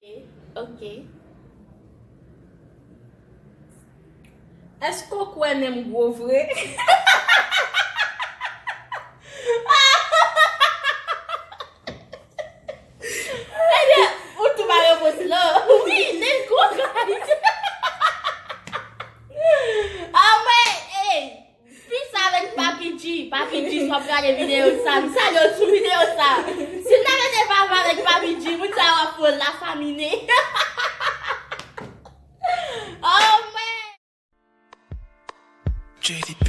Ok Eske ou kwe menm gwo vre Ebyen ou tou ba repons lan Wi menm gwo kay Anmwey Fi sa ret papi G. Papi G si wap gade video sa m salye w sou video sa. Si w ta rete vava avèk papi G moun sa yo ap pran la famine. Oh mwen. JDB.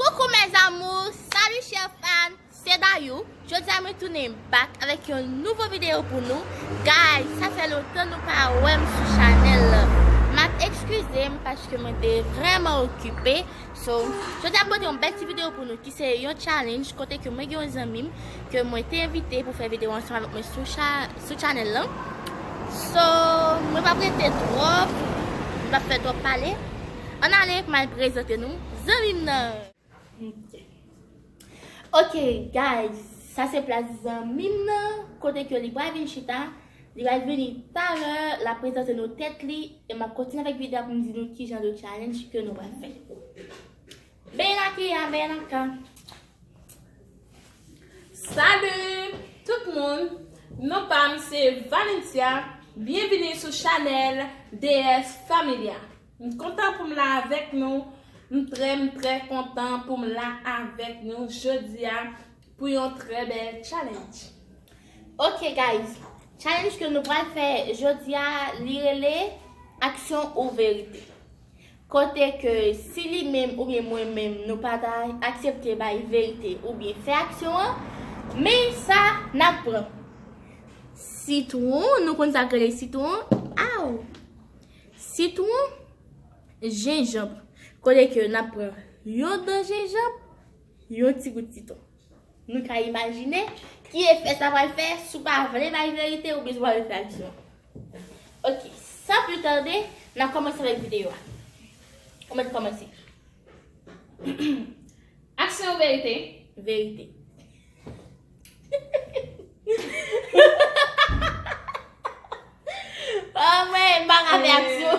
Coucou mes amours, salut chers fans, c'est Dayou, jodia mwen tounen back avèk yon nouvo video pou nou, guys sa fè lontan nou pa wèm sou chanèl lan, map ekskuze'm paske mwen te vrèman okipe, so jodia mwen pote yon bèl ti video pou nou ki se yon challenge kote ke mwen gen yon zanmi'm ke mwen te envite pou fè video ansanm avèk mwen sou chanèl lan, so mwen pap rete twòp, mwen pap fè twòp pale. An ale kmay prezante nou zanmim nan. Ok guys sa se plas zanmim nan kote ke li pral vin chita li pral vini talè lap prezante nou tèt li e map kontinye avèk video a poum di nou kijan de challenge ke nou pral fè. Bel aky a bel anka. Salut tout moun non pam se Valencia byenvini sou chanel DS familia m kontan poum la avèk nou m trè m trè kontan poum la avèk nou jodia pou yon trè bèl challenge. Ok guys challenge ke nou pral fè jodia li rele aksyon ou verite Kote ke si li menm oubyen mwen menm nou pa ta aksepte bay verite oubyen fè aksyon an, men sa n ap pran. Sitwon, nou konn sa k rele sitwon? Aww! Sitwon, jenjanb, kote ke n ap pran yon dan jenjanb, yon ti gout sitwon. Nou ka imajine ki efè sa pral fè si w pa vle bay verite oubyen si w pa vle fè aksyon. Ok san pli tarde nan komanse avek video a ou met komanse Aksyon ou verite? Verite Amen, m pa ka fè aksyon.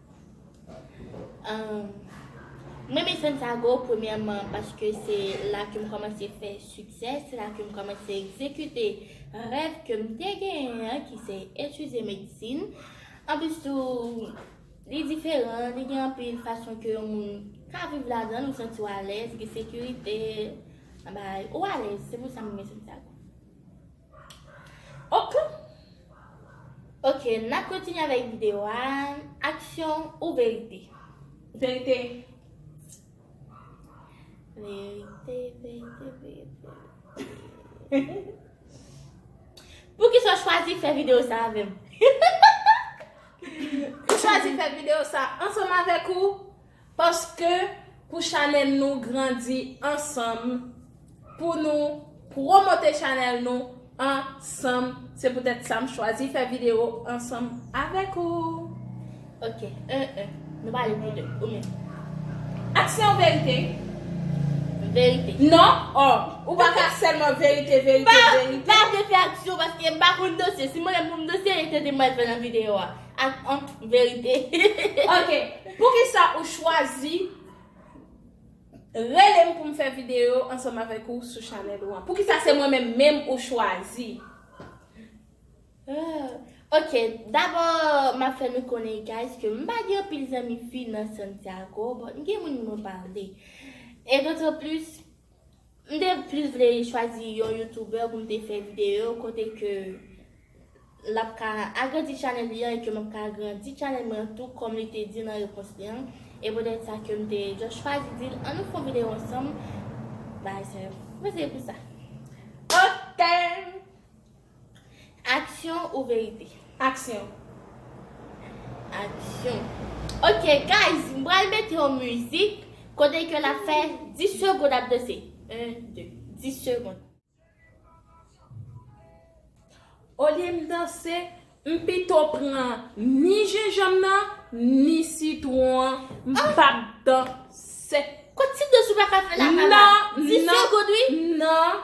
Mwen renmen Santiago premyèman paske se la ke m kòmanse fè siksè, se la ke m kòmanse egzekite rèv ke m te genyen an ki se etidye medsin. Anplis tou, li diferan, li gen anpil fason ke yon moun ka viv ladan l, ou santi w alèz, gen sekirite, bagay, ou alèz, se pou sa m renmen Santiago. Ok Ok nap kontinye avèk video a Aksyon ou verite? Verite Verite verite verite Hehe Poukisa ou chwazi fè video sa avèm? Hehehehe Mwen chwazi fè video sa ansanm avèk ou Paske pou chanel nou grandi ansanm pou nou promote chanel nou ansanm se poutèt sa m chwazi fè video ansanm avèk ou ok 1 1 nou pa ale pou 2 ou menm aksyon verite verite non oh ou pa ka sèlman verite verite verite m pa vle fè aksyon paske m pa konn danse si m wè m pou m danse e tenten m pral fè nan video a. Ak an verite. Ok poukisa ou chwazi relem poum fè video ansanm avèk ou sou chanèl ou an? Poukisa se mwen menm menm ou chwazi? Ok dabò map fè nou konnen guys ke mpa gen anpil zanmi fi nan Santiago but mgen moun mwen pale. E d'autant plus M te plis vle chwazi yon youtuber pou m te fè video kote ke l ap ka agrandi channel li an e ke m ap ka agrandi channel mwen an tou kòm li te di nan repons li an e petèt sa ke m te just chwazi di l an nou fè yon video ansanm bagay sa yo. M panse se pou sa. Ok! Aksyon ou verite? Aksyon. Aksyon. Ok guys m pral mete yon mizik kote ke lap fè 10 segond ap danse 1 2 10 segond. Olye m danse m pito pran ni jenjanm nan ni sitwon an m pap danse. Kot ti danse ou paka fè la Nan nan 10 segond wi. Nan.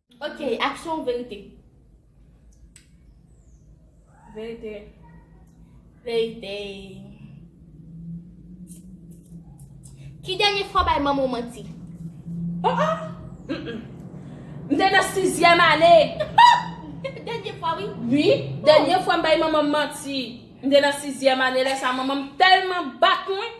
Ok aksyon ou verite. Verite Verite Ki dènye fwa w bay manman w manti? Oh oh M te nan sizyèm ane Dènye fwa wi Wi Dènye fwa m bay manman m manti M te nan sizyèm ane lè sa manman m tèlman bat mwen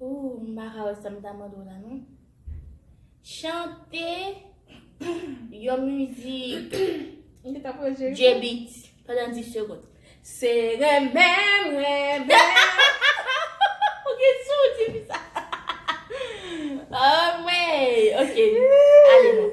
Ooh m paka wè sam ta mande w la non. Chante yon mizik J-beat pandan 10 segond. Se renmen m renmen w. Ou gen sou w di fi sa. Anmweyy ok ale non.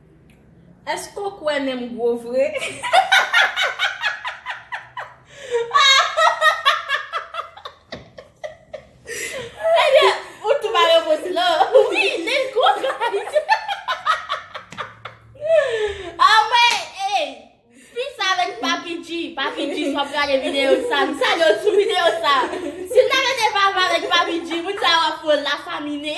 Eske w kwè nen m gwo vre? Ebyen, ou tou ba repons lan. Wi, nen l gwo guys. Anmwey, ey! Fi sa menm k Papi G. Papi G, si w ap gade videyo sa, m salye w sou videyo sa. Si l ta mete vava avèk Papi G, moun sa yo ap pran l la famine.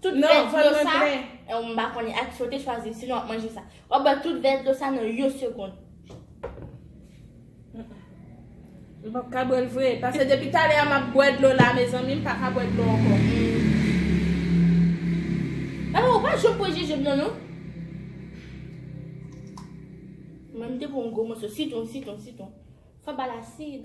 Tout vè dlo sa, m pa konnen ak ki sa w te chwazi, sinon w ap manje sa. W ap bwè tout vè dlo sa nan yon segond. M pap ka bwè l vre, pase depi talè a m ap bwè dlo la mezanmi, m pa ka bwè dlo ankò. Mama ou pa janm bwè jenjanm nan non. Mwen m te bwè yon gwo moso sitwon, sitwon, sitwon. Fò ba l asid.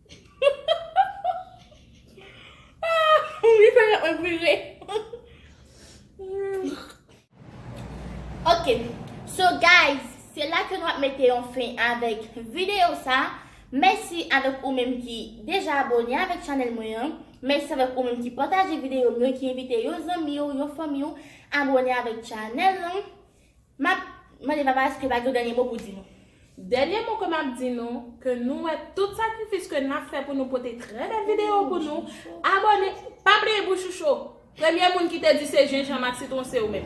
Ok, so guys, se la ke nou ap mete yon fin avèk videyo sa. Mèsi avèk ou menm ki deja abone avèk chanèl mwen an. Mèsi avèk ou menm ki pataje videyo mwen, ki envite yon zanmi ou, yon fanmi ou abone avèk chanèl lan. Map Mande papa eske pa gen yon dènye mo pou di nou. Dènye mo ke map di nou, ke nou wè tout sakrifis ke nap fè pou nou pote trè bèl video pou nou, abòne, pa bliye bouch ou cho, premye moun ki te di se jenjanm ak sitron se ou menm.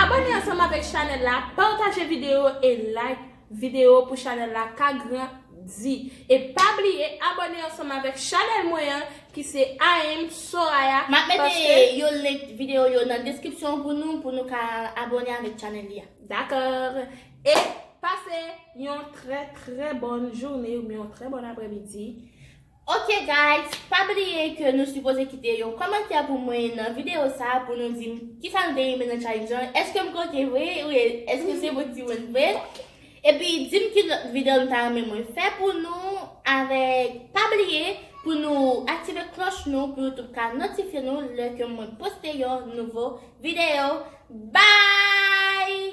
Abòne ansanm avèk chanèl la, pataje video e like. Video pou chanel la ka gran di. E pa bliye abone ansanm avek chanel mwen an ki se Aim Soraya. Map mete yo link video yo nan description pou nou pou nou ka abone avek chanel li a. Dakor. E pase yon tre tre bon journée ou byen yon tre bon apremidi. Ok guys pa bliye ke nou sipoze kite yon kòmantè pou mwen nan video sa pou nou dim kisa nou te renmen nan challenge lan eske m koken vre ou eske se bon timoun vre epi dim ki lòt video nou ta renmen mwen fè pou nou avèk pa bliye pou nou aktive klòch nou pou youtube ka notifye nou lè ke mwen poste yon nouvo video bye.